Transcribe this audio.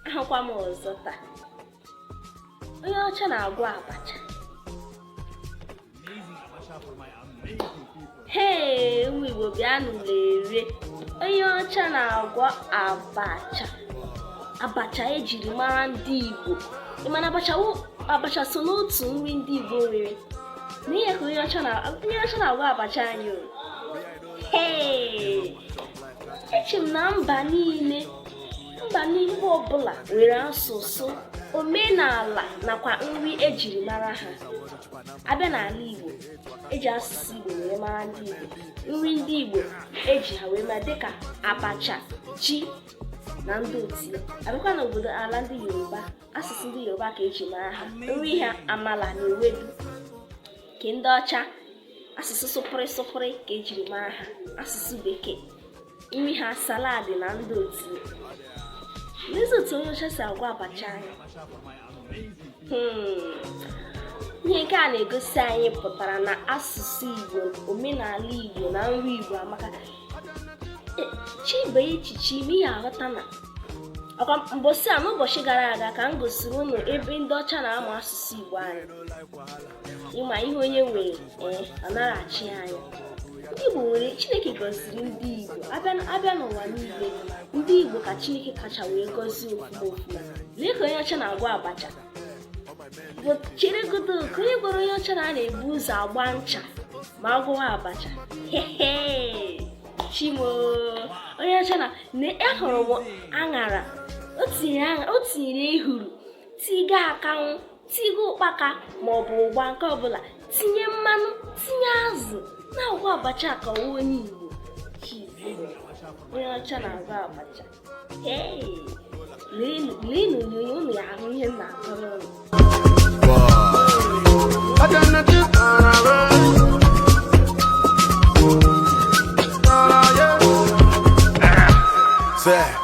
ahụkwa m ọzọ taa onye ọcha na-agwọ abacha hee ụmụ Igbo bịanụ lere onye ọcha na-agwọ abacha abacha ejiri mara ndị Igbo ị ma na abacha so n'otu nri ndị Igbo nwere nee ka onye ọcha na-agwọ abacha anyị o eche m na mba niile mba niile ọbụla nwere asụsụ omenala nakwa nri ejiri mara ha abịa n'ala igbo eji asụsụ igbo wee mara ndị igbo nri ndị igbo eji ha wee mara dịka abacha ji na ndị otu ya abịakwa n'obodo ala ndị yoruba asụsụ ndị yoruba ka ejiri mara ha nri ha amala na ewedu nke ndị ọcha asụsụ sụpụrị sụpụrị ka ejiri mara ha asụsụ bekee nri ha salad na ndị otu nezie otu onye ọcha si agwọ abacha anyị hmm. ihe nke a na-egosi anyị pụtara na asụsụ igbo omenala igbo na nri igbo amaka ị chebe echiche ime ị ya-aghọta na ọkwa mbọsị a mbọsị gara aga ka m gosiri unu ebe ndị ọcha na-amụ asụsụ igbo anyị ị ma ihe onye nwere ee eh, ọ nara achị anya ndị Igbo nwere Chineke gọziri ndị Igbo abịa n'ụwa niile ndị Igbo ka Chineke kacha wee gọzie ofuma ofuma lee ka onye ọcha na-agwọ abacha chere godu kee onye gwara onye ọcha na a na-ebu ụzọ agba ncha ma a gwọwa abacha Chi m o onye ọcha na ahụrụ m aṅara o tinyere ehuru tiga akanwụ tigo ụkpaka ma ọ bụ ụgba nke ọbụla tinye mmanụ tinye azụ na-agwọ abacha ka ọ wụ onye igbo onye ọcha na-agwọ abacha leenụ onyonyo unu ya-ahụ ihe m na-akọrọ unu